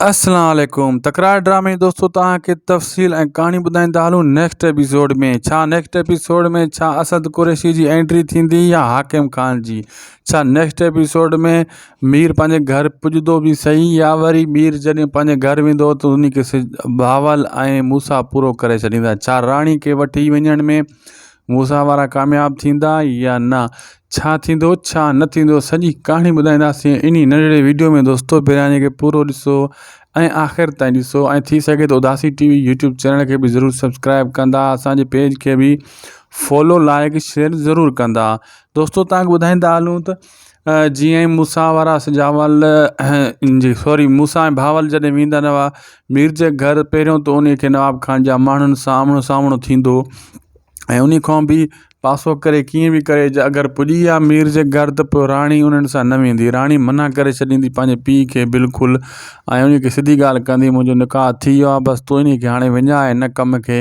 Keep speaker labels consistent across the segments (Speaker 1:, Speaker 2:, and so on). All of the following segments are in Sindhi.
Speaker 1: اسلام عليڪم تڪرار ڊرامي دوستو توهان کي تفصيل ۽ ڪهاڻي ٻڌائيندا هلون نيڪسٽ ايپيسوڊ ۾ ڇا نيڪسٽ ايپيسوڊ ۾ ڇا اسد قريشي جي انٽري ٿيندي يا حاڪم خان جي ڇا نيڪسٽ ايپيسوڊ ۾ مير پنهنجي گهر پڄدو به صحيح يا وري مير جڏهن پنهنجي گهر ويندو ته ان کي سج بهاول ۽ موسا پورو ڪري ڇڏيندا ڇا راڻي کي وٺي وڃڻ ۾ موسيٰ وارا ڪامياب ٿيندا يا نه ڇا ٿيندو ڇا نه ٿيندو سڄي ڪهاڻي ٻڌائينداسين انهي ننڍڙي ويڊيو ۾ دوستو پهريان هن کي پورو ڏسو ۽ آخر تائين ڏسو ۽ ٿي سگهي ته Udasi T V YouTube channel کي به ضرور سبسڪرائب ڪندا اسانجي پيج کي به فالو لائڪ شيئر ضرور ڪندا دوستو تانکي ٻڌائيندا هلون ته جيئن ئي موسيٰ وارا سجاول جي سوري موسيٰ ۽ بھاول جڏھن ويندا رھيا مير جي گھر پھريون تو انھيء کي نواب خان جا ماڻھن سان آمھڻو سامھڻو ٿيندو ۽ انھيء کان به پاسو ڪري ڪيئن به ڪري جا اگر پڄي ويا مير جي گھر ته پوء راڻي انھن سان نه ويندي راڻي منع ڪري ڇڏيندي پنھنجي پيء کي بلڪل ۽ انھيء کي سڌي ڳالھه ڪندي منھنجو نڪاح ٿي ويو آھي بس تون انھيء کي ھاڻي وڃاء ھن ڪم کي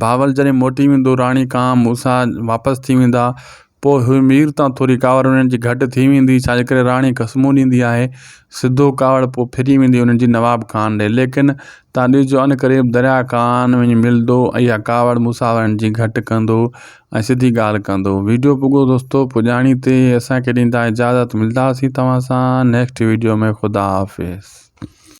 Speaker 1: بهاول جڏهن موٽي ويندو، راڻي ڪانء موسيٰ واپس ٿي ويندا، پوء هيء مير تان ٿوري ڪاوڙ انهن جي گهٽ ٿي ويندي، ڇا جي ڪري راڻي قسمون ڏيندي آهي. سڌو ڪاوڙ پوء ڦري ويندي انهن جي نواب ڪانء ڏي. ليڪن تان ڏسجو عنقريب درياء ڪانء وڃي ملندو ۽ اها ڪاوڙ موسيٰ وارن جي گهٽ ڪندو ۽ سڌي ڳالهه ڪندو. وڊيو پڳو دوستو پڄاڻي تي اسان کي ڏيندا اجازت ملداسين توهان سان نيڪسٽ وڊيو ۾ خدا حافظ.